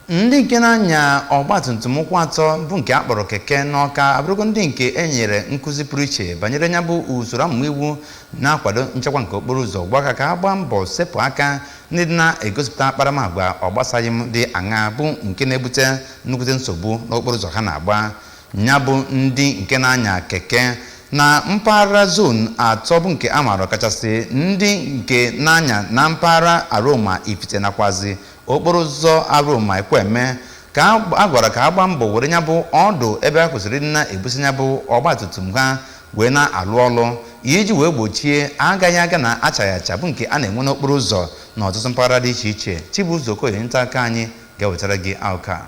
Ndị nke na-anya ọgbatumtum ụkwụ atọ bụ nke a kpọrọ keke n'Awka abụrụgo ndị nke e nyere nkụzi pụrụ iche banyere nya bụ usoro amụma iwu na-akwado nchekwa nke okporo ụzọ gwakwa ka ha gbaa mbọ sepụ aka n'ịdị na-egosipụta akparamagwa ọgbasaghị m dị aṅa bụ nke na-ebute nnukwute nsogbu n'okporo ụzọ ha na-agba ya bụ ndị nke na-anya keke na mpaghara zon atọ bụ nke a maara ọkachasị ndị nke na-anya na mpaghara Aroma Ifite nakwazi okporo ụzọ Aroma Ekwueme ka a gwara ka ha gbaa mbọ were nya bụ ọdụ ebe ha kwesịrị ịdị na-ebusi nya bụ ọgbatumtum ha wee na-alụ ọlụ iji wee gbochie agaghị aga na achaghị acha bụ nke a na-enwe n'okporo ụzọ n'ọtụtụ mpaghara dị iche iche Chibuzo Okoye onye nta akụkọ anyị ga-ewetara gị akụkọ a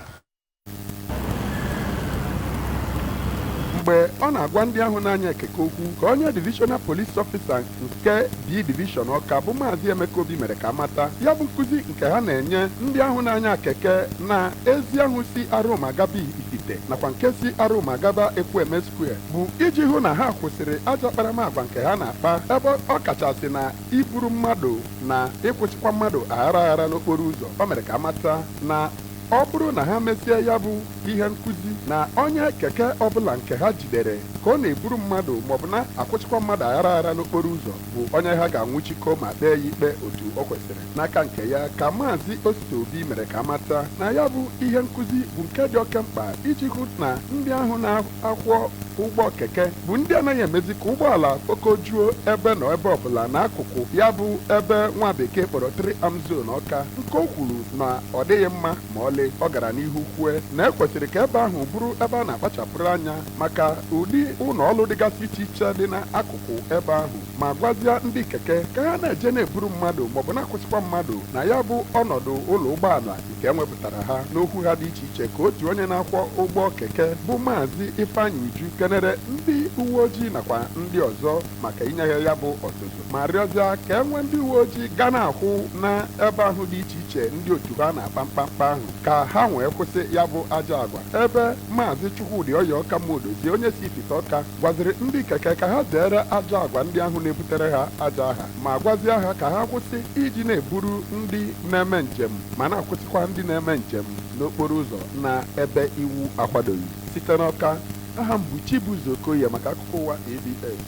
mgbe ọ na-agwa ndị ahụ na-anya keke okwu ka onye divishọnal polis ọfịsa nke B divishọn Ọka bụ maazị Emeka Obi mere ka a mata ya bụ nkụzi nke ha na-enye ndị ahụ na-anya keke na ezi ahụ si Aroma gaba Ifite nakwa nke si Aroma gaba Ekwueme Square bụ iji hụ na ha kwụsịrị ajọ akparamagwa nke ha na-akpa ebe ọ kachasị na iburu mmadụ na ịkwụsịkwa mmadụ aghara aghara n'okporo ụzọ o mere ka a mata na ọ bụrụ na ha mesịa ya bụ ihe nkụzi na onye keke ọbụla nke ha jidere ka ọ na-eburu mmadụ maọbụ na-akwụsịkwa mmadụ aghara aghara n'okporo ụzọ bụ onye ha ga-anwụchikọ ma kpee ya ikpe otu o kwesịrị n'aka nke ya ka maazị Osita Obi mere ka a mata na ya bụ ihe nkụzi bụ nke dị oke mkpa iji hụ na ndị ahụ na- akwọ ụgbọ keke bụ ndị anaghị emezi ka ụgbọala kpokojuo ebe nọ ebe ọbụla n'akụkụ ya bụ ebe nwa bekee kpọrọ Three Arms Zone Ọka nke o kwuru na ọ dịghị mma ma ọlị ọ gara n'ihu kwue na e kwesịrị ka ebe ahụ bụrụ ebe a na-akpachapụrụ anya maka ụdị ụnọ ọlụ dịgasị iche iche dị n'akụkụ ebe ahụ ma gwazia ndị keke ka ha na-eje na-eburu mmadụ maọbụ na-akwụsịkwa mmadụ na ya bụ ọnọdụ ụlọ ụgbọala nke e wepụtara ha n'okwu ha dị iche iche ka otu onye na-akwọ ụgbọ keke bụ maazị Ifeanyị Uju kenere ndị uwe ojii nakwa ndị ọzọ maka inye ha ya bụ ọzụzụ ma rịọzịa ka e nwee ndị uwe ojii ga na-akwụ na ebe ahụ dị iche iche ndị otu ha na-akpa mkpamkpa ahụ ka ha wee kwụsị ya bụ ajọ agwa ebe maazị Chukwudi Oyeoka Modozie onye si Ifite Ọka gwaziri ndị keke ka ha zere ajọ agwa ndị ahụ na-ebutere ha ajọ aha ma gwazie ha ka ha kwụsị iji na-eburu ndị na-eme njem ma na-akwụsịkwa ndị na-eme njem n'okporo ụzọ na ebe iwu akwadoghị site n'Ọka aha m bụ Chibuzo Okoye maka akụkọ ụwa ABS